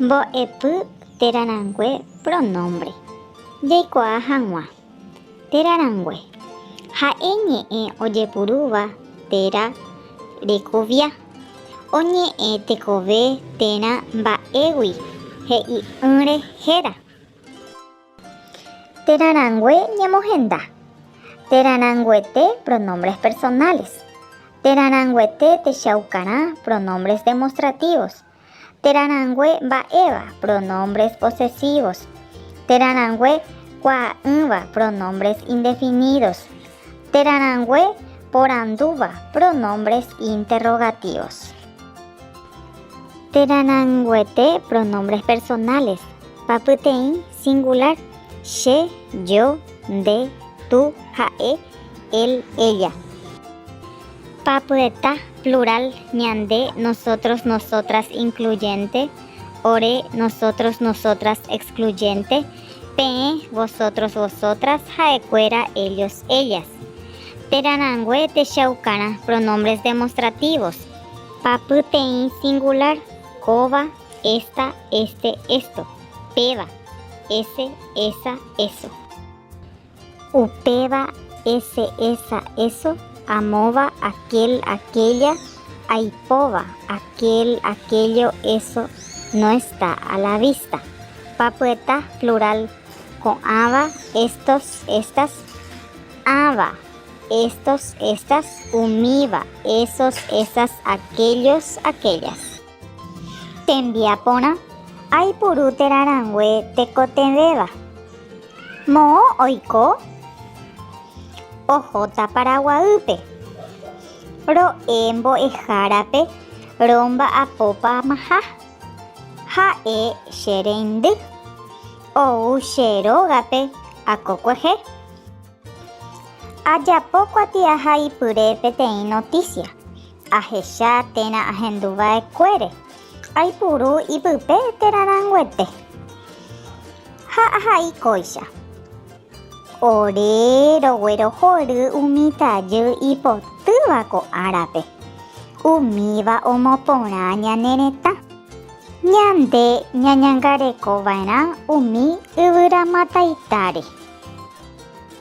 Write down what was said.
Mbo'epy térã rangue pronómbre jaikuaa hag̃ua. Térã rangue. Ha'e ñe'ẽ ojepurúva térã rekovia. Oñe'ẽ tekove térã mba'égui he'i'ỹre héra. Térã rangue ñemohenda. Térã ranguete pronombres personales. Térã ranguete techaukarã pronombres demostrativos. Térã rangue mba'éva pronombres posesivos. Térã rangue kuaa'ỹva pronombres indefinidos. Térã rangue porandúva pronombres interrogativos. Térã ranguete pronombres personales pa pyteĩ singular, che, yo, nde, tú, ha'e, él, ella. Pa pyeta plural ñande, nosotros, nosotras incluyente, ore, nosotros, nosotras excluyente. Peẽ, vosotros, vosotras, ha'ekuéra, ellos, ellas. Térã rangue techaukarã pronombres demostrativos. Papyteĩ singular, kóva, ésta, éste, esto. Péva, ese, esa, eso. Upéva ese, esa, eso, amóva, aquel, aquella, aipóva, aquel, aquello, eso, no está a la vista. Papyeta plural ko'ãva, estos, estas, ãva, estos, estas, umíva, esos, esas, aquellos, aquellas. Tembiaporã, Aipuru térã rangue tekotevẽva. Moõ oiko? Ohóta Paraguaýpe. Ro'e mbo'ehárape romba'apópamaha. Ha'e che reindy. Ou che rógape akokuehe. Ajapo kuatiaha ipyre peteĩ notísia, ahecha térã ahendu va'ekuére, aipuru ipype térã ranguete ha ahai kóicha. Ore roguerohory umi tajy ipotýva ko árape, umíva omoporã ñane retã. Ñande ñañangareko va'erã umi yvyramataitáre.